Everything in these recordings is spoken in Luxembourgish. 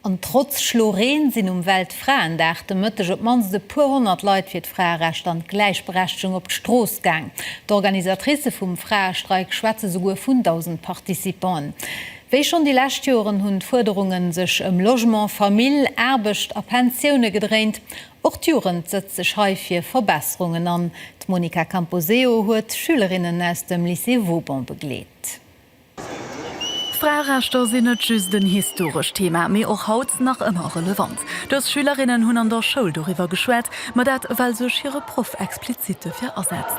An trotz Schlo Reen sinn um Weltfraendag de Mëtteg op d'mannst e puer honnert Leit fir d'Fraerecht an d'Gläichberechtegung op d'Strooss gaang. D'Organisatricë vum Fraestreik schwätze souguer vun 1.000 Participanten. Wéi schonn déi lescht Joren hunn d'Fuerderunge sech ëm Logement, Famill, Aarbecht a Pensioune gedréint. Och d'Jugend sëtzt sech hei fir Verbesserungen an. D'Monica Camposeo huet Schülerinnen aus dem Lycée Vauban begleet. D'Fraerechter sinn net just en historescht Thema, mee och haut nach ëmmer relevant. Dës Schülerinnen hunn an der Schoul doriwwer geschwat, ma dat well sech hire Proff explizit dofir asetzt.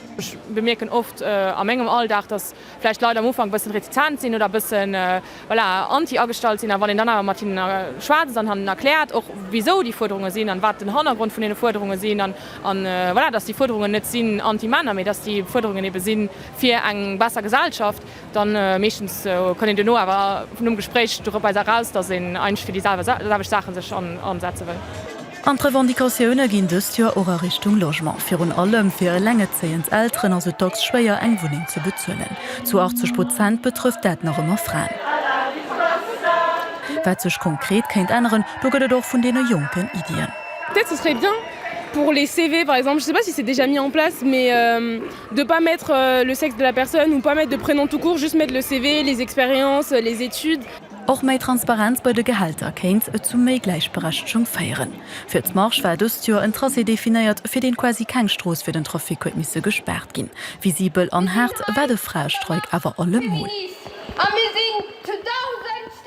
Ech bemierken oft a mengem Alldag, dass vläicht d'Leit am Ufank e bëssen retizent sinn oder e bëssen, voilà, anti agestallt sinn. A wann een dann awer mat hinnen schwätzt an hannen erkläert och, wisou déi Fuerderunge sinn an wat den Hannergrond vun deene Fuerderunge sinn, an voilà, dass déi Fuerderungen net sinn anti-Männer, mee dass déi Fuerderungen eebe sinn fir eng besser Gesellschaft, Dann meeschtens konnt een duerno awer vun dem Gespréich doropwise eraus, dass een eigentlech fir déi selwecht Saachen sech ansetze wëll. An d'Revendicatioune ginn dëst Joer och a Richtung Logement. Virun allem fir elengerzéiend Elteren ass et dacks schwéier, eng Wunneng ze bezuelen. Zu 80 Prozent betrëfft dat nach ëmmer Fraen. Wat sech konkret kéint änneren, do gëtt et och vun deene Jonken Iddien. de pas mettre le sexe de la personne ou pas mettre de prénom tout court, just mettre le CV, les expériences, les études. Och méi Transparenz bei de Gehälter kéint zu méi Gläichberechtegung féieren. Fir d'Marche war dëst Joer en Tracé definéiert, fir deen quasi keng Strooss fir den Trafic huet misse gespaart ginn. Visibel an haart war de Fraestreik awer allemol.